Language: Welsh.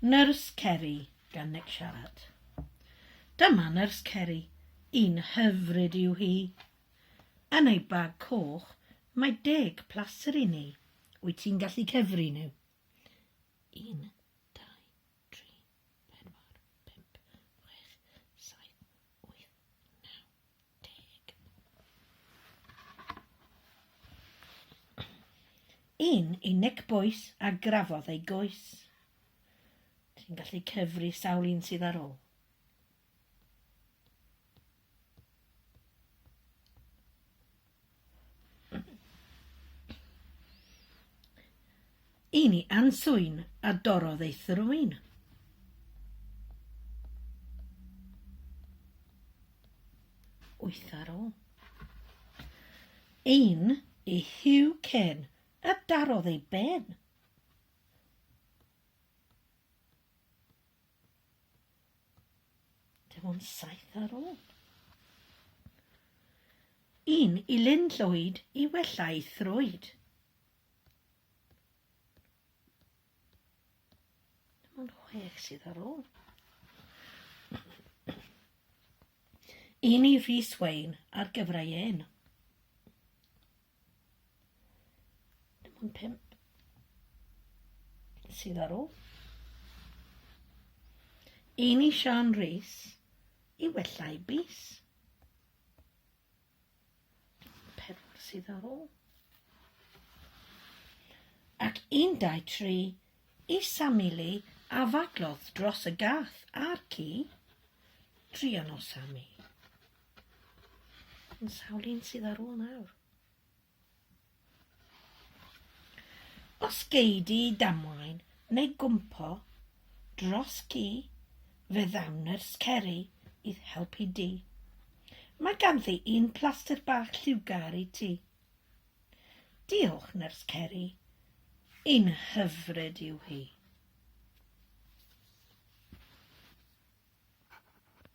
Nyrs Ceri, gan Nick siarad. Dyma Nyrs Ceri, un hyfryd yw hi. Yn ei bag coch mae deg plaster i ni. Wyt ti'n gallu cyfri nhw? Un, dau, tri, pedwar, pump, chwech, saith, wyth, naw, Yn ei nec bois a grafodd ei goes. Ti'n gallu cyfri sawl un sydd ar ôl. I ni answyn a dorrodd ei thrwyn. Wyth ar ôl. Ein i Hugh Ken a darodd ei ben. Dim ond saith ar ôl. Un i Lyn Llwyd i wella'u thrwyd. Dim ond chwech sydd ar ôl. Un i Rhys Wayne ar gyfrau ein. Dim ond pimp sydd ar ôl. Amy Sian Rees i wella i bus. Pedwar sydd ar ôl. Ac un dau tri i Sammy Lee a faglodd dros y gath a'r ci. Trian o Sammy. Yn sawl un sydd ar ôl nawr? Os gei di damwain neu gwmpo dros gi, fe ddawn nyrs Ceri i'th helpu di. Mae ganddi un plaster bach lliwgar i ti. Diolch, nyrs Ceri. Un hyfryd yw hi.